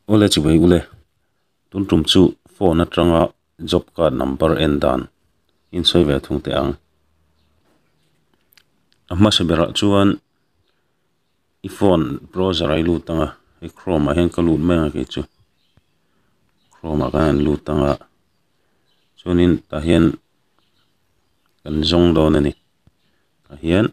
Ule chi vei ule, tun tum chu phone atanga job card number en dan in sawi ve thung teh ang. A hmasa berah chuan i phone browser ah i lut ang a, i chrome ah hian ka lut mai ang a kei chu, chrome ah kan han lut ang a, chuan in tah hian kan zawng dawn a ni, tah hian.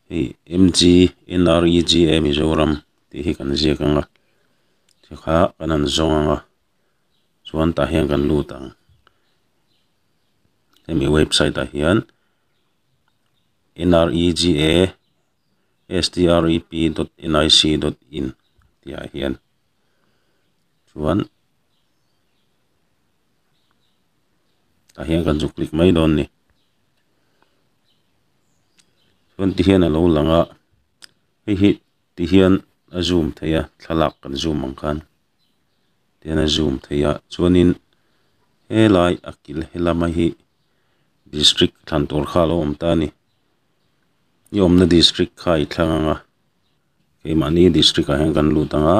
hei mg nrega mizoram tih hi kan ziak ang a chi kha kan han zawng ang a chuan tah hian kan lut ang hemi website ah hian nrega strep dot nic dot in tih ah hian chuan-- tah hian kan zuk klik mai dawn a ni chuan ti hian a lo lang a hei hi ti hian a zoom theih a thlalak kan zoom ang khan ti hian a zoom theih a chuanin helai a kil he lama hi district thlantur kha a lo awm ta a ni ni awmna district kha a i thlang ang a keimahni district ah hian kan lut ang a.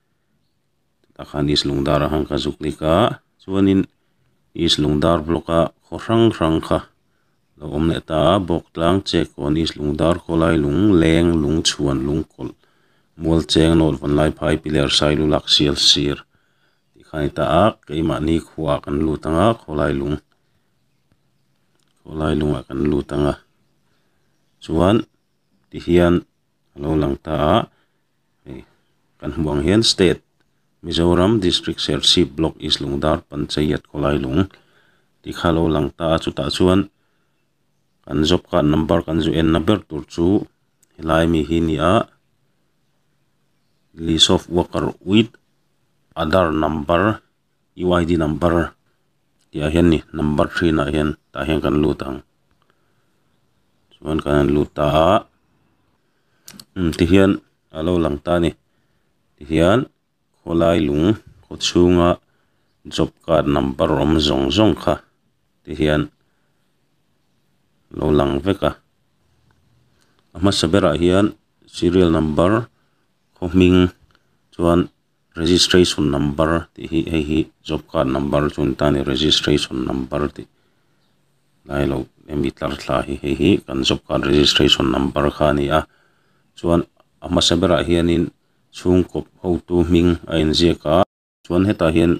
Tah khan East Lungdar a han ka zuk lik a, chuanin East Lungdar block a khaw hrang hrang kha lo awm leh ta a, bawk tlang Chekkawn, East Lungdar, Khawlai Lung, Leng, Lungchhuan, Lungkawlh, Mualcheng, Nawt Van Lai Phai, Piler, Sailulak, Sial Sir tih kha a ni ta a, keimahni khuaah kan lut ang a, Khawlai Lung, Khawlai Lung ah kan lut ang a, chuan tihian a lo lang ta a. Kan hmuh ang hian state Mizoram district serchhip block east lungdar panchayat khawlai lung tih kha lo lang ta a chutah chuan kan job card number kan zu enna ber tur chu helai ami hi ni a list of worker with aadhar number . UID number tih ah hian ni number thin ah hian tah hian kan lut ang chuan kan rawn lut ta a hmun te hian a lo lang ta a ni tih hian khawlai lung khaw chhung a job card number awm zawng zawng kha te hian lo lang vek a a hmasa ber ah hian serial number khaw hming chuan-- Registration number tih hi hei hi job card number chu an ta a ni registration number tih lai lo hemi tlar thla hi hei hi kan job card registration number kha a ni a chuan a hmasa berah hianin chhungkaw hotu hming a inziak a chuan hetah hian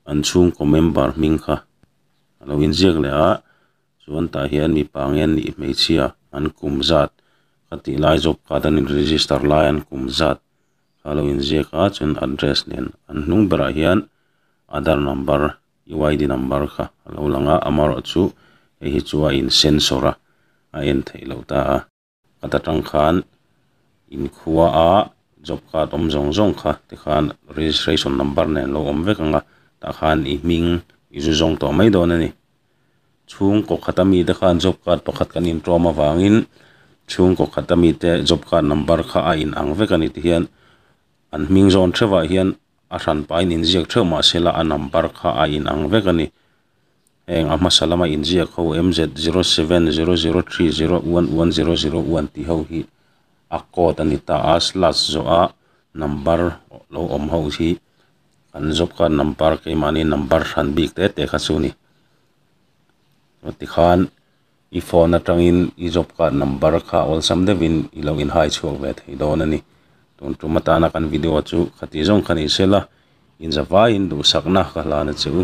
an chhungkaw member hming kha a lo inziak leh a chuan tah hian mipa nge an nih hmeichhia an kum zat kha tih lai job card an in register lai an kum zat. Ka lo inziak a, chuan address nen an hnung berah hian Aadhar number, EYD number kha a lo lang a, amarawh chu hei hi chu a in censor a, a en theih loh ta a. Ka ta tang khan in khua a, job card awm zawng zawng kha tikhan registration number nen lo awm vek ang a, tah khan i hming i zu zawng tawh mai dawn a ni. Chhungkaw khata mite khan job card pakhat kan intuam avangin chhungkaw khata mite job card number kha a in ang vek a ni tih hian an hming zawn theuhvah hian a hran pahin inziak theuh mahsela a number kha a in ang vek a ni. Heng a hmasa lama inziak ho MZ zero seven zero zero three zero one one zero zero one tih ho hi a code a ni ta a, slash zawha number lo awm ho hi Kan zawka number keimahni number hran bik te te kha chu ni chuan tikhan i phone atangin i job card number kha awlsam deuhin i lo in hai chhuak ve thei dawn a ni tun tum atana kan video chu khati zawng kha ni sela inzavaiin duhsakna ka hlan a che u.